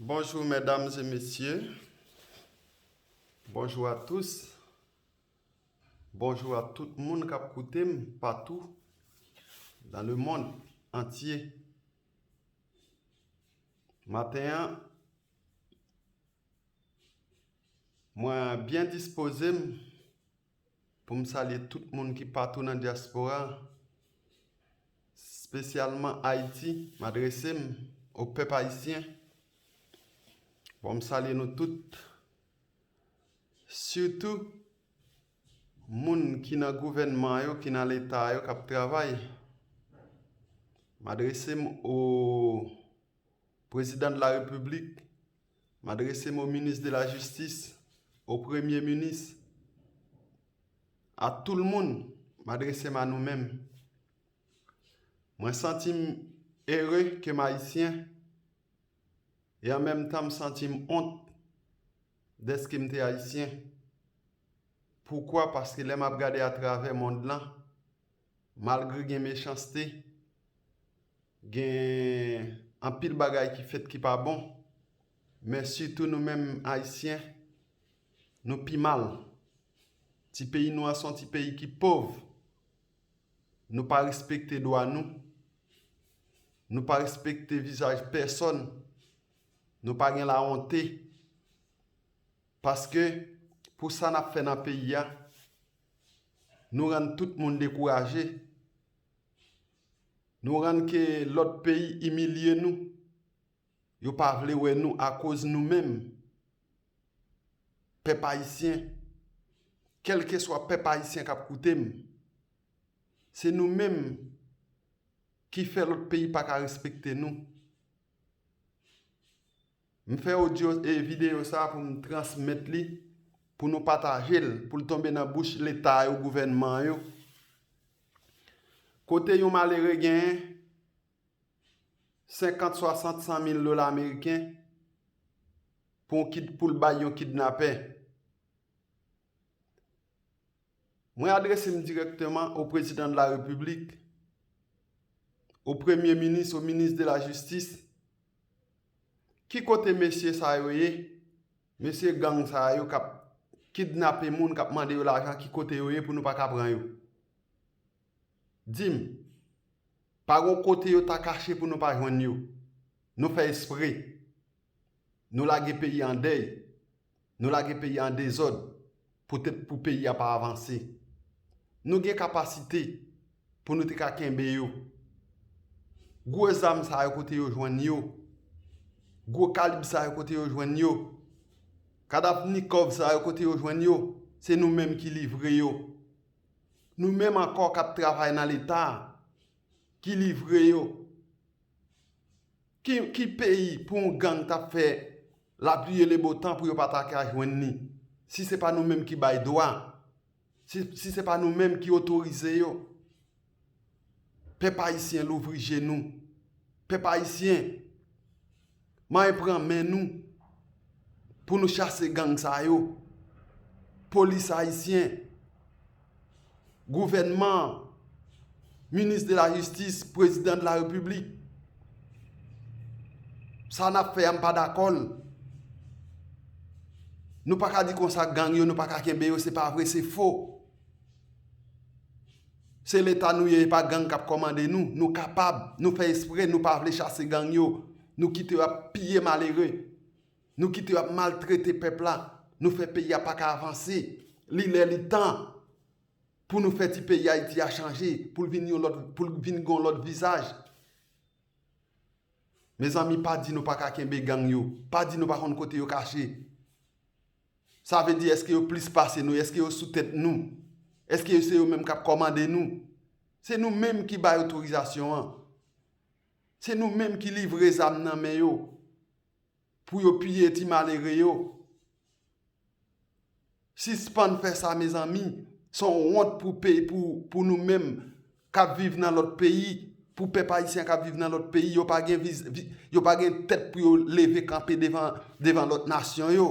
Bonjour mesdames et messieurs Bonjour à tous Bonjour à tout moun kap koute m patou dans le monde entier Maten an mwen byen dispoze m Pou m salye tout moun ki patou nan dyaspora, spesyalman Ayiti, m adrese m o pèp ayisyen. Bon m salye nou tout, sitou moun ki nan gouvènman yo, ki nan leta yo k ap travay. M adrese m o prezidan de la repiblik, M adrese m o minis de la jistis, o premye minis, a tou l moun, m adrese m a nou menm. Mwen santi m ere ke m ayisyen e an menm tan m santi m ont dèske m te ayisyen. Poukwa? Paske lè m ap gade atravè mond lan, Malgre gen mechanste, gen anpil bagay ki fèt ki pa bon, men sitou nou menm Ayisyen, nou pi mal. Ti peyi nou an se yon ti peyi ki pov, nou pa respekte dwa nou, nou pa respekte vizaj pèsòn, nou pa gen lawonte, paske pou sa n ap fè nan peyi a, Nou rann tout moun dekouraje. Nou rann ke lòt peyi imilye nou. Yo pa vle wè nou akoz nou menm. Pèp Ayisyen, kèlkeswa pèp Ayisyen k ap koute m, se nou menm ki fè lòt peyi pa ka respekte nou. M fè odyo e videyo sa pou m transmèt li pou nou pataje l pou l tonbe nan bouch leta yo gouvènman yo kote yon malere genyen 50 60 100 mil dola ameriken pou l bay yon kidnapè. Mwen adrese m dirèkteman o Prezidan de la Repiblik, o Premye Minis, o Minis de la Jistis, ki kote mesye sa yo ye, mesye gang sa yo k ap kidnape moun, k ap mande yo lajan, ki kote yo ye pou nou pa ka pran yo? Di m, pa gen yon kote yo ta kache pou nou pa jwenn yo? Nou fè espre? Nou lage peyi an dèy? Nou lage peyi an dezòd poutèt pou peyi a pa avanse. Nou gen kapasite pou nou te ka kenbe yo. Gwo zam sa yo kote yo jwenn yo? Gwo kalib sa yo kote yo jwenn yo? Kadapnikòv sa yo kote yo jwenn yo? Se nou menm ki livre yo. Nou menm ankò k ap travay nan Leta a ki livre yo. Ki peyi pou yon gang tap fè la pluie le beau temps pou yo pa ta ka jwenn li si se pa nou menm ki bay dwa si se pa nou menm ki otorize yo pèp ayisyen louvri je nou pèp ayisyen main pran men nou pou nou chase gang sa yo polis ayisyen gouvènman an, minis de la jistis, prezidan de la repiblik. Sa n ap fè a m pa dakò l. Nou pa ka di konsa gang yo nou pa ka kenbe yo se pa vre se fo. Se leta nou ye e pa gang k ap kòmande nou. Nou kapab, nou fè espre nou pa vle chase gang yo. Nou kite yo ap piye malere. Nou kite yo ap maltrete pèp la, nou fè peyi a paka avanse. Li lè li tan pou nou fè ti peyi Ayiti a chanje, pou l vin yon lòt, pou l vin gen yon lòt vizaj. Mezanmi pa di nou pa ka kenbe gang yo, pa di nou pa konn kote yo kache. Sa vle di èske yo plis pase nou, èske yo sou tèt nou, èske yo se yo menm k ap kòmande nou. Se nou menm ki bay otorizasyon an. Se nou menm ki livre zam nan men yo. Pou yo piye ti malere yo. Sispann fè sa mezanmi. Son wont pou pey pou pou nou menm kap viv nan lòt peyi. Pou pèp ayisyen kap viv nan lòt peyi. Yo pa gen viz vi yo pa gen tèt pou yo leve kanpe devan devan lòt nasyon yo.